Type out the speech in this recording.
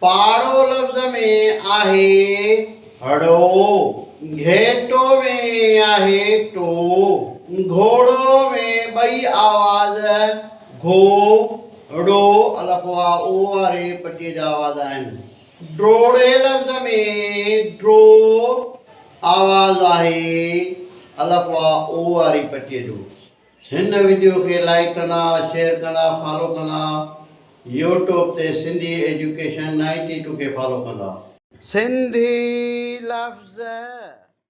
پاڙو لفظ ۾ آهي هڙو. گهيٽو ۾ آهي ٽو. گهوڙو ۾ ٻئي آواز گهو، ڙو، الف واء او واري پٽي جا آواز آهن. ڊوڙي لفظ ۾ ڊرو آواز آهي الف واء او واري پٽي جو. هن وڊيو کي لائيڪ ڪندا شيئر ڪندا فالو ڪندا يوٽوب تي سنڌي ايجوڪيشن نائنٽي ٽو کي فالو ڪندا. سنڌي لفظ.